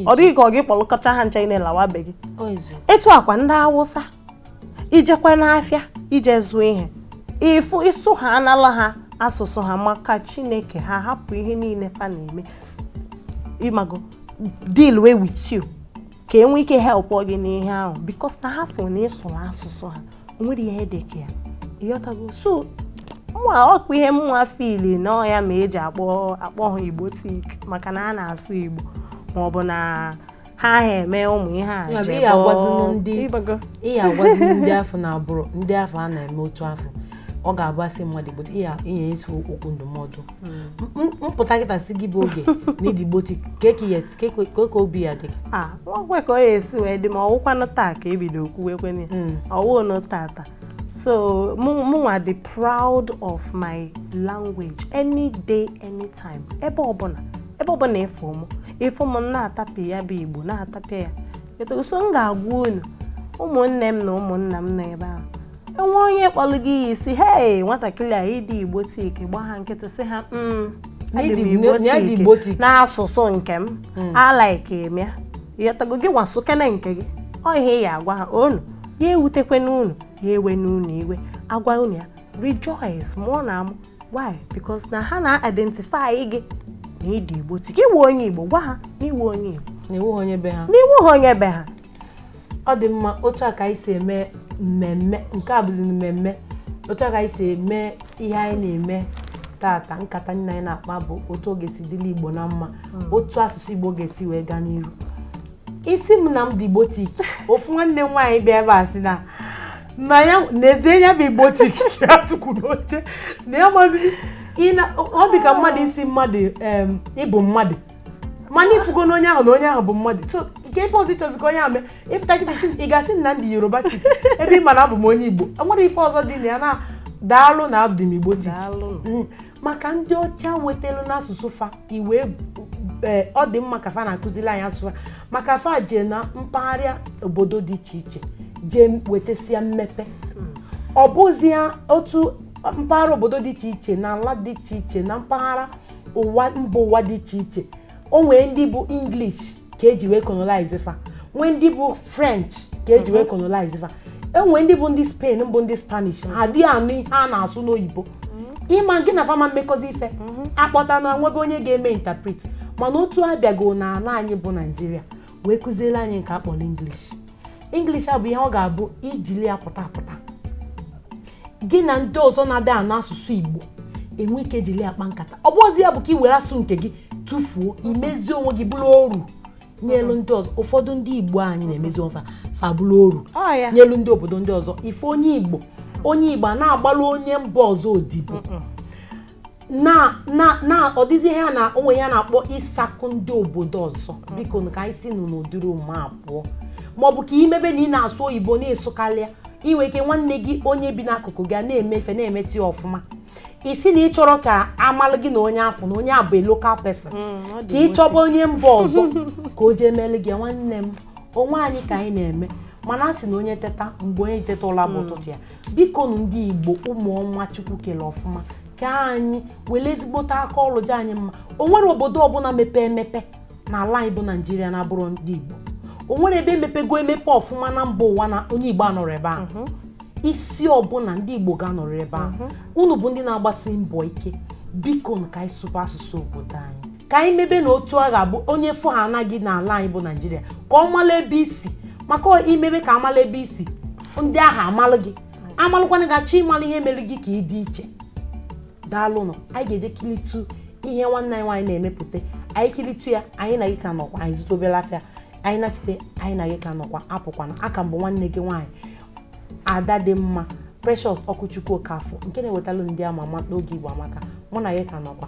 ọ dị gị ka ọ gị kpọlụkọta ha ncha ị na-alawa be gị Ozu. etu a kwa ndị awụsa ijekwa n'afịa ije zụọ ihe ịfụ ịsụ ha anala ha asụsụ ha maka chineke ha hapụ ihe niile fa na-eme ịmago dealwa with you ka enwe ike help gị n'ihe ahụ because na ha fụ na ịsụrụ asụsụ ha o nwere ihe dị ka ya ịghọtago so mwa ọ wụ ihe mwa feel na ọ ya mere eji akpọ akpọ ha igbotic maka na a na-asụ igbo ma ọ bụ na ha ha eme ụmụ ihe a Ya bụ, ị agwazinụ ndị- ịbago ị ya agwazi ndị afụ na agbụrụ ndị afụ a na-eme otu afụ ọ ga-abụ asị mmadụ igbo ihe inye isi okwu ndụmọdụ M- m- m pụta kịta sị gị bụ oge na ị dị igbotic ka eke ya ka ekwe- ka oke obi ya dị gị a nwakwe ka ọ ya esi wee dị ma ọwụkwanụ taa ka ebido kwuwe kwene Mm. ọwụnụ tata so mụ- mụnwa dị proud of my language any day anytime ebe ọbụla ebe ọbụla ịfụ mụ ịfụ m na-atapịa ya bụ igbo na-atapịa ya etu so m ga-agwa unu ụmụnne m na ụmụnna m nọ ebe ahụ enwe onye kpọlụ gị iyi si hei nwatakịrị a ịdị igbotic gba ha nkịtị si ha mm, adị m Igbo na ịdị Igbotic tic. n'asụsụ nke m a like m ya ịghọtago gị nwa sụkene nke gị ọ ihe ị ya agwa ha unu ya ewutekwene unu ya ewene unu iwe agwa unu ya rejoice mụọnụ amụ why because na ha na-identify gị na ịdị igbotic iwu onye igbo gwa ha na iwu onye igbo na iwu onye be ha n'iwu ha onye be ha ọ dị mma otu a ka anyị si eme mmemme nke a bụzi mmemme otu a ka anyị si eme ihe anyị na-eme tata nkata anyị na-akpa bụ otu ọ ga-esi dịla igbo na mma otu asụsụ igbo ga-esi wee gaa n'iru ị sị m na m dị igbotic ofu nwanne m nwaanyị bịa ebe a sị na na ya n'ezie ya bụ igbotic ya tukwu n'oche na ya mazi ọ dị ka mmadụ ịsị mmadụ em, ịbụ mmadụ mana ifugo na onye ahụ na onye ahụ bụ mmadụ so nke ife ọzọ ịchọzikọ onye ahụ mee ịpụta gị ị ga-asị na ndị yoruba tip ebe ị mana abụ m onye igbo nwere ife ọzọ dị na ya na daalụ na abụ m igbo tip mm. maka ndị ọcha wetara n'asụsụ fa iwe e, ọ dị mma ka fa na-akụziri anyị asụsụ maka fa jee na mpaghara obodo dị iche iche jee wetasia mmepe mm. ọ bụzi otu mpaghara obodo dị iche iche na ala dị iche iche na mpaghara ụwa mba ụwa dị iche iche o nwee ndị bụ english ka eji wee colonize fa nwee ndị bụ french ka eji wee colonize fa o nwee ndị bụ ndị spain bụ ndị spanish ha adịghị anụ ihe a na-asụ n'oyibo ịma gị na fa ama mmekọzi ife akpọta na nwebe onye ga-eme interpret mana otu a abịago na ala anyị bụ naijiria wee kụziere anyị nke akpọrọ english english a bụ ihe ọ ga-abụ i jili ya pụta apụta gị na ndị ọzọ na-adị anụ asụsụ Igbo enwe ike jiri akpa nkata ọ bụrọzi ya bụ ka i were asụsụ nke gị tụfuo imezi onwe gị bụrụ oru nyelu ndị ọzọ ụfọdụ ndị igbo anyị na-emezi onwe fa bụrụ oru nyelu ndị obodo ndị ọzọ ị fụ onye igbo onye igbo a na-agbalụ onye mba ọzọ odibo na na na ọ dịzi ihe a na o nwe ihe a na-akpọ ịsakụ ndị obodo ọzọ biko ka anyị si nụ n'ụdịrị omume a pụọ maọbụ ka i mebe na ị na-asụ oyibo na ị sụkarịa inwe ike nwanne gị onye bi n'akụkụ gị a na-eme ife na-emete ọfụma ị sị na ị chọrọ ka amalụ gị na onye afụ na onye a bụ a local person Mm, ọ dị ka ị chọba onye mba ọzọ ka o jee mele gị nwanne m onwe anyị ka anyị na-eme mana a sị na onye teta mgbe onye teta ụla bụ ụtụtụ ya bikonu ndị igbo ụmụ ọnwa chukwu kele ọfụma ka anyị were ezigbote aka ọrụ jaa anyị mma o nwere obodo ọbụla mepee emepe n'ala anyị bụ naijiria na-abụrọ ndị igbo o nwere ebe emepego emepe ọfụma na mba ụwa na onye igbo anọrọ ebe ahụ mhm. isi ọbụla ndị igbo ga-anọrọ ebe ahụ mhm. unu bụ ndị na-agbasi mbọ ike biko ka anyị sụba asụsụ obodo anyị ka anyị mebe na otu a ga-abụ onye fụ ha anaghị n'ala anyị bụ naijiria ka ọ mala ebe i si maka ọ- i mebe ka amala ebe i si ndị ahụ amalụ gị amalụkwanụ gị achọ ịmalụ ihe mere gị ka ị dị iche daalụnụ anyị ga-eje kilitu ihe nwanne anyị nwaanyị na-emepụtara anyị kilitu ya anyị na gị ka nọkwa anyị zụta obere afịa anyị nachite anyị na gị ka nọkwa apụkwana aka m bụ nwanne gị nwaanyị ada dị mma Precious Ọkụchukwu Okafọ nke na-ewetara ndị ama ama n'oge Igbo Amaka mụ na ya ka nọkwa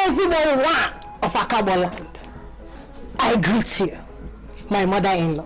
ezigbo nwa of Akagboland I greet you my mother-in-law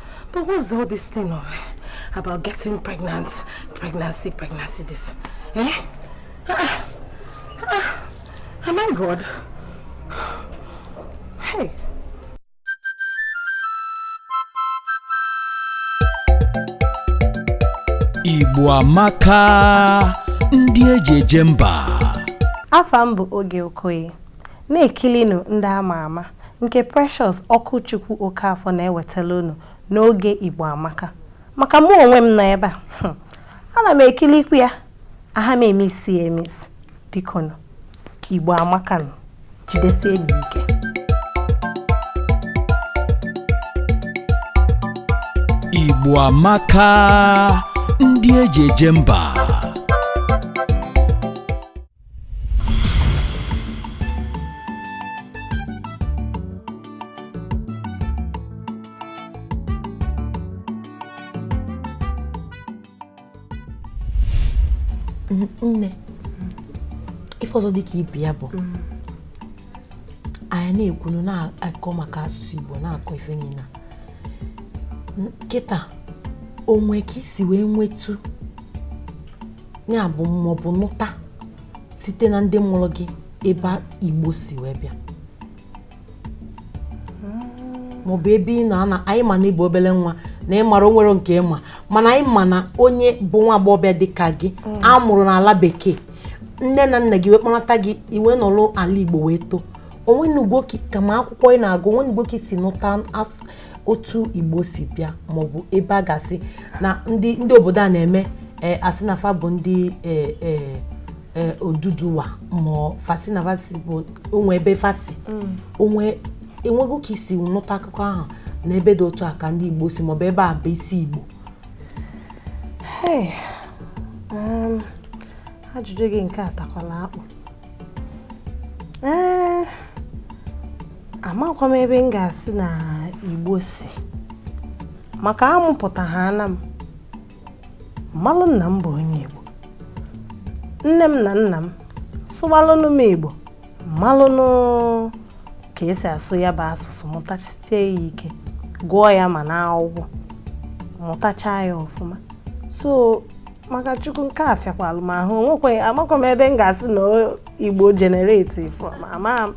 But what's all this thing of about getting pregnant, pregnancy, pregnancy this? Eh? Ah, ah, am I God? Hey. Igbo amaka ndị eji eje mba. Afa m bụ Oge Okoye. Na-ekilinu ndị ama ama nke Precious Ọkụchukwu Okafọ na-ewetalụ unu n'oge Igbo Amaka. Maka mụ onwe m nọ ebe a, hmm, ana m ekilikwu ya, aha m emisi ya emisi. Bikonu, Igbo Amaka nụ, jidesie m ike. Igbo Amaka, ndị eji eje mba. nne ife ọzọ dị ka ibe ya bụ mm. anyị na-ekwunu na-akọ maka asụsụ Igbo na-akọ ife niine kịta o nwe ka i si wee nwetu ya bụ maọbụ nụta site na ndị mụlụ gị ebe igbo si wee bịa maọbụ ebe ị nọ na anyị ma na ị bụ obele nwa na ị mara o nwere nke ị ma mana anyị ma na onye bụ nwa agbọghọbịa dị ka gị mm. a mụrụ n'ala bekee nne na nna gị wee kpọnata gị i wee nọlụ ala igbo wee too o nwenugo ka ma akwụkwọ ị na-agụ o nwenugo ka i si nụta otu igbo si bịa maọbụ ebe a ga-asị na ndị ndị obodo a na-eme eh, asị na fa bụ ndị eh, eh, eh, oduduwa ma fa sị na fa si o nwe ebe fa si o nwe o nwego ka i si nụta akụkọ ahụ na ebe dị otu a ka ndị igbo si maọbụ ebe a bụ isi igbo Hey, um, ajụjụ gị nke a takwala akpụ ee amakwa m ebe m ga-asị na igbo si maka amụpụta ha ana m m malụ na m bụ onye igbo nne m na nna m sụwalụnụ m igbo m malụnụ ka e si asụ ya bụ asụsụ mụtachisie ya ike gụọ ya ma na akwụkwọ mụtachaa ya ọfụma so maka chukwu nke a fịakwalụ m ahụ nwekwe amakwa m ebe m ga-asị na igbo generate from ama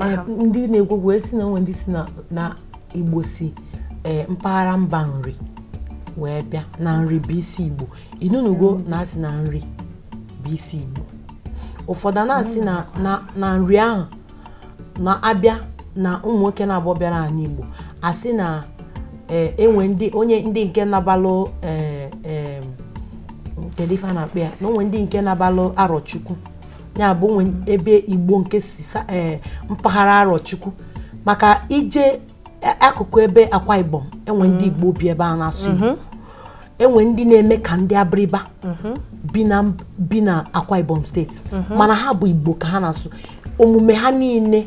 eh, ndị na-ekwu okwu sị na o nwe ndị sị na igbo si eh, mpaghara mba nri wee bịa na nri bụ isi igbo ị nụnugo na asị na nri bụ isi igbo ụfọdụ na-asị na nri ahụ na a bịa na ụmụ nwoke naabọ bịara ani Igbo a sị na eh, enwe ndị o nwe ndị nke nabalụ eh, eh, kedu ife a na-akpọ ya na o nwe ndị nke nabalụ arọchukwu ya bụ o nwe ebe Igbo nke si sa- eh, mpaghara arọchukwu maka ije akụkụ ebe akwa ibom enwe ndị mm. igbo bi ebe a na-asụ igbo mm-hmm. enwe ndị na-eme ka ndị abiriba mm-hmm. bi na akwa ibom steeti mm-hmm. mana ha bụ igbo ka ha na-asụ omume ha niile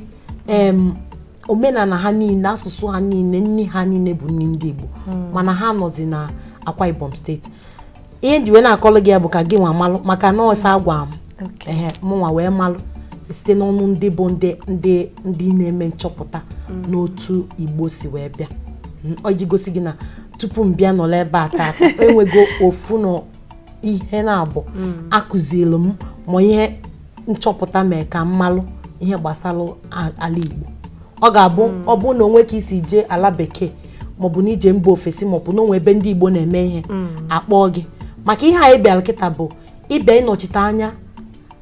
omenala ha niile asụsụ ha niile nni ha niile bụ nni ndị igbo mm. mana ha nọzi na akwa ibom steeti ihe njiwe na-akọlụ gị ya bụ ka gị nwa malụ maka na ife agwa m ehe mụnwa wee malụ site n'ọnụ ndị bụ ndị ndị ndị na-eme nchọpụta mm. n'otu Igbo si wee bịa mm, ọ iji gosi gị na tupu m bịa nọrọ ebe a taata enwego ofu na ihe naabọ mm. akụziri m ma ihe nchọpụta mee ka m malụ ihe gbasalụ a- ala Igbo ọ ga-abụ ọ bụrụ na o nwe ka i si jee ala bekee maọbụ na i je mba ofesi maọbụ na o nwe ebe ndị Igbo na-eme ihe a kpọọ gị maka ihe anyị bịalụ kịta bụ ịbịa ịnọchite anya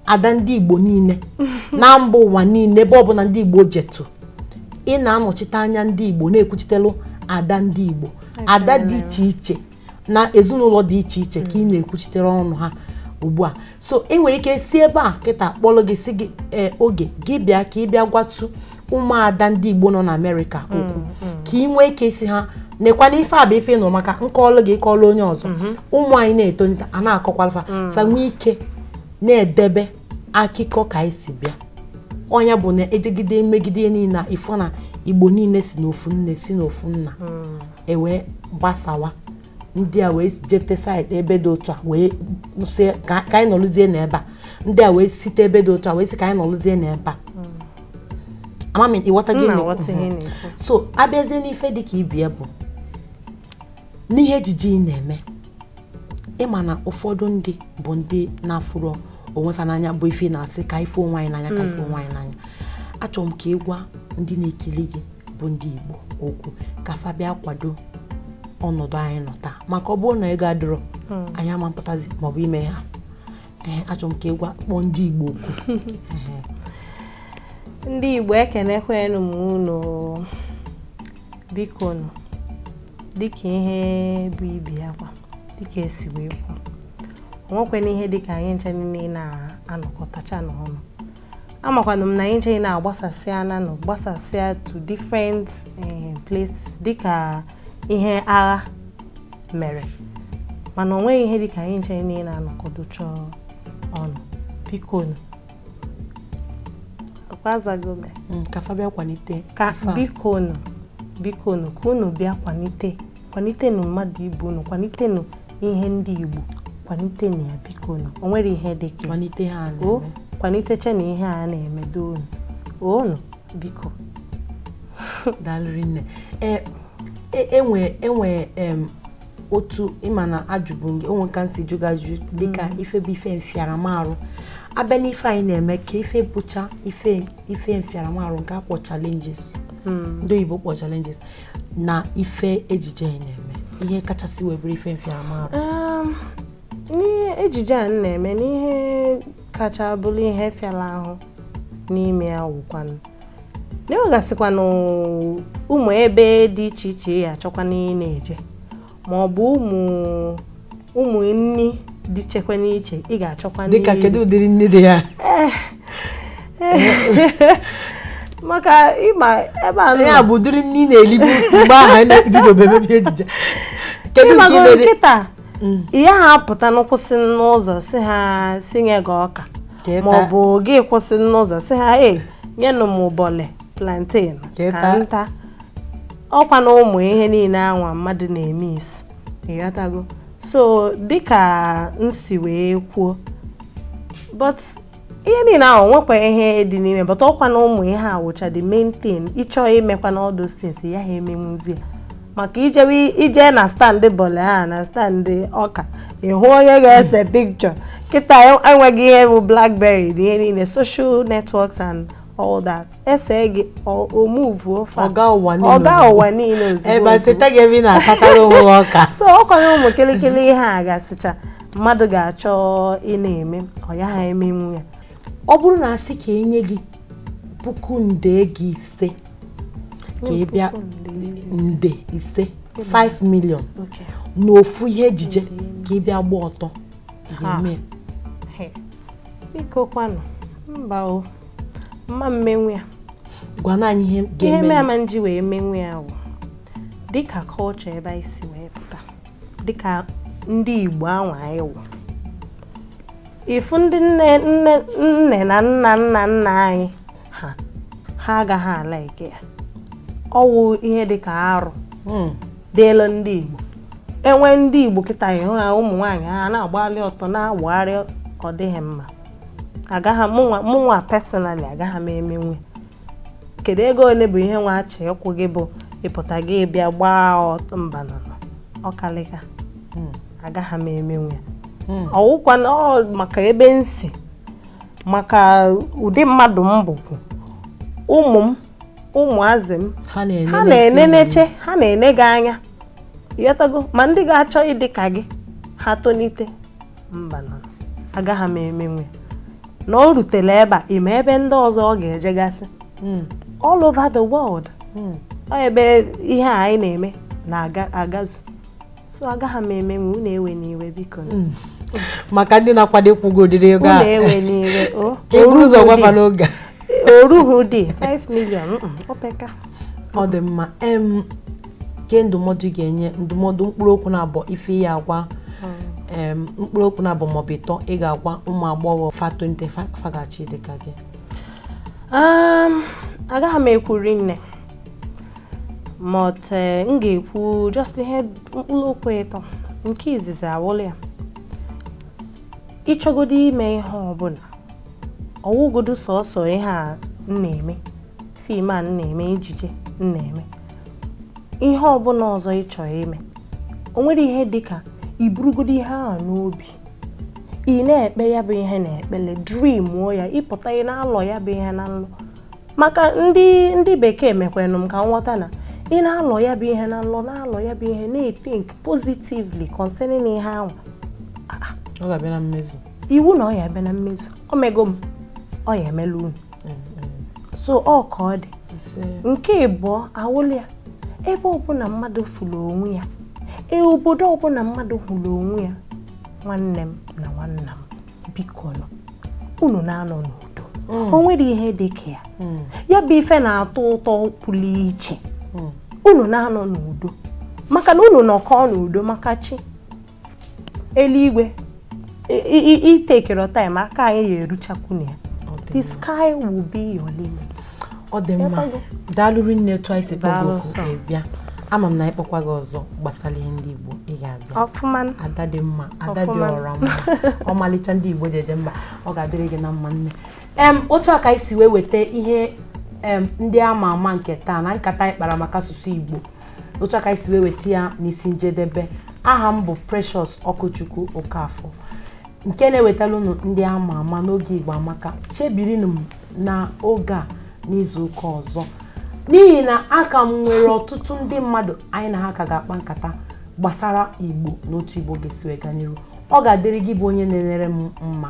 ada ndị Igbo niile na mba ụwa niile ebe ọbụla ndị Igbo jetụ ị na-anọchite anya ndị Igbo na-ekwuchitelu ada ndị Igbo ada dị iche iche na ezinụlọ dị iche iche ka ị na-ekwuchitere ọnụ ha ugbu a so ị nwere ike si ebe a kịta kpọlụ gị sị gị eh, oge gị bịa ka ị bịa gwatụ ụmụada ndị Igbo nọ na Amerịka mm, okwu mm. ka ị nwee ike ịsị ha nekwanụ ife a bụ ife m nụ maka m kọọlụ gị ị kọọlụ onye ọzọ mm-hmm. ụmụ anyị na-etonite a na-akọkwalụ fa mm. fa nwee ike na-edebe akụkọ ka anyị si bịa ọ nya bụ na e jegide megide niile ị fụ na igbo niile si n'ofu nne si n'ofu nna hmm. e wee gbasawa ndị a wee jete side ebe dị otu a wee sị ka ka anyị nọrụzie n'ebe a ndị a wee site ebe dị otu a wee sị ka anyị nọrụzie n'ebe a ama m ị ghọta ihe m na-ekwu. M ghọta ihe ị na-ekwu. so a bịazie n'ife dị ka ibie bụ n'ihe ejije ị na-eme ị ma na ụfọdụ ndị bụ ndị na-afụrọ onwe fa n'anya bụ ife ị na-asị ka anyị fụ onwe anyị n'anya ka anyị fụ onwe anyị n'anya achọrọ m ka ị gwa ndị na-ekiri gị bụ ndị Igbo okwu ka fa bịa kwado ọnọdụ anyị nọ taa maka ọ bụrụ na ego adịrọ hmm. anyị ama mepụtazi maọbụ ime ha ee achọ m ka ị gwa kpọọ ndị Igbo oku ndị Igbo ekenekwanụ m unu bikonụ dịka ihe bụ ibi akwa dịka e si wee kwuo o nwekwene ihe dịka anyị ncha niile na-anọkọtacha n'ọnụ amakwanụ m na anyị ncha na-agbasasịa nanụ gbasasịa to different eh, places dịka ihe agha mere mana o nweghị ihe dịka anyị ncha niile na-anọkọdocha ọnụ biko nụ akwazagome mm, ka fa bịa kwalite ka biko nụ biko nụ ka unu bịa kwalite kwalitenụ mmadụ ibe unu kwalitenụ ihe ndị Igbo kwalitenụ ya biko unu o nwere ihe dị ka kwalite ha o kwaliteche na ihe a na-emedo unu unu biko daalụ rinne enwe e, enwe otu ị ma na ajụbụ gị o nwe ka m si jụ gị ajụjụ dịka mm. ife bụ ife mfiaramarụ a bịa n'ife anyị na-eme kee ife bụcha ife ife mfiaramarụ nke a kpọ challenges mm. ndị oyibo kpọ challenges na ife ejije anyị na-eme ihe kachasị wee bụrụ ife mfiaramahụ um, n'ihe ejije a na-eme n'ihe kacha bụrụ ihe fịara ahụ n'ime ya wụkwanụ na e nwegasịkwanụ ụmụ ebe dị iche iche ị ya-achọkwa ịna-eje ma ọ bụ ụmụ ụmụ nri dị ichekwa n'iche ị ga-achọkwa nri dịka kedu ụdịrị nri dị ya eh, eh. maka ị ma ebe a ya bụ ụdịrị nri ị na-elibu mgbe ahụ anyị na-ebidobebe ejije kedu nke ị ma-eri kịta mm. ị yaha apụtanwu kwụsị n'ụzọ sị ha sinye gị ọka ma ọ bụ gị kwụsị n'ụzọ sị ha nyenụ m bọle plantain ka m ta ọkwa na ụmụ ihe niile anwa mmadụ na-emesi ị ghọtago so dịka m si wee kwuo but ihe niile ahụ nwekwa ihe dị n'ime but ọkwa na ụmụ ihe a wụcha the main thing ị chọọ imekwa na all those things ị yaha emenwuzi ya maka ị jewe ije na stand bọle a na stand ọka ị hụ onye ga-ese picture kịta e nwego ihe bụ blackberry na ihe niile social networks and all that e see gị ọ move-uo ọ gaa ụwa niile ozugbo ebe e seta gị ebe ị na-atachara onwe gị ọka so ọ kwanụ ụmụ kịlịkịlị ihe a gasịcha mmadụ ga-achọ ịna-eme ọ yaha emenwu ya ọ bụrụ na a sị ka e nye gị puku nde gị ise ka ị bịa nde ise 5 million n'ofu ihe ejije ka ị bịa gba ọtọ ị ga-eme biko kwanụ mba o m ma emenwu ya gwanụ anyị ihe ihe mere ama m ji wee menwu ya wụ dịka culture ebe anyị si wee pụta dịka ndị Igbo anwa anyị wụ ị fụ ndị nne nne nne na nna nna nna anyị ha ha agaghị a-like ya ọ wụ ihe dịka arụ hmm. dịịlị ndị Igbo e nwere ndị Igbo kịta ị hụ ha ụmụ nwaanyị ha na-agbalị ọtọ na-agagharị ọ dịghị mma agaghị mụnwa mụnwa personally agaghị m emenwe kedu ego one bụ ihe nwa a chọ ịkwụ gị bụ ịpụta gị bịa gbaa ọtọ mba nụ ọ kalịka hmm. agaghị m emenwe hmm. ọ wụkwanụ maka ebe m si maka ụdị mmadụ m bụkwu ụmụ m ụmụazị m ha na-eneneche ha na-ene gị anya ị ghọtago ma ndị ga-achọ ịdị ka gị ha tonite mba nụ agaghị m emenwe na o rutere ebe a ị ma ebe ndị ọzọ ọ ga-ejegasị hmm. all over the world hmm. ebe ihe a anyị na-eme na-agazu so agaghị m emenwe unu ewena iwe biko hmm. maka ndị na-akwado ịkwụ gị ụdịrị ego a e buru ụzọ gwa fa n'oge o ruhu dị 5 million o peka ọ dị mma kee ndụmọdụ ị ga-enye ndụmọdụ mkpụrụ okwu naabọ ife ị ya-agwa em, mkpụrụ okwu naabọ maọbụ ịtọ ị ga-agwa ụmụ agbọghọ fa tonite fa ga-achọ ịdị ka gị Um, agaghị m ekwu rinne but eh, m ga-ekwu just ihe mkpụrụ okwu ịtọ nke izizi awụlụ ya ị chọgodo ime ihe ọbụna ọ wụgodo sọsọ ihe a m na-eme fim a na-eme ejije na-eme ihe ọbụna ọzọ ị chọrọ ime o nwere ihe dị ka i burugodo ihe ahụ n'obi ị na-ekpe ya bụ ihe n'ekpele dreamuo ya ị pụta ị na-alọ ya bụ ihe na nlọ maka ndị ndị bekee mekwanụ m ka m ghọta na ị na-alọ ya bụ ihe na nlọ na-alọ ya bụ ihe na-ethink positively concerning ihe ahụ ọ ga-abịa na mmezu iwu na ọ ya-abịa na mmezu o mego m ọ ya-emelu unu so ọ ka ọ dị nke ịbụọ awụlụ ya ebe ọbụna mmadụ fụrụ onwe ya e obodo ọbụna mmadụ hụrụ onwe ya nwanne m na nwanna m bikonụ unu na-anọ n'udo mm. o nwere ihe dị ka ya mm. ya bụ ife na-atọ ụtọ pụrụ iche mm. unu na-anọ n'udo maka na unu nọkọọ n'udo maka chi eluigwe itekere time aka anyị ya-eruchakwu na ya the sky will be your limit ọ dị mma daalụ rinne etu i si bịa ama m na a kpọkwa gị ọzọ gbasara ihe ndị Igbo ị ga-abịa ada dị mma ada dị ọra mma ọmalịcha ndị Igbo ji eje mba ọ ga-adịrị gị na mma nne m otu a ka anyị si wee weta ihe ndị ama ama nke taa na nkata anyị kpara maka asụsụ Igbo otu a ka anyị si wee weta ya n'isi njedebe aha m bụ Precious Ọkụchukwu Okafọ nke na-ewetara unu ndị ama ama n'oge Igbo Amaka chebirinụ m na oge a n'izu ụka ọzọ n'ihi na aka m nwere ọtụtụ ndị mmadụ anyị na ha ka ga-akpa nkata gbasara Igbo na otu Igbo ga-esi wee gaa n'iru ọ ga-adịrị gị bụ onye na-enere m mma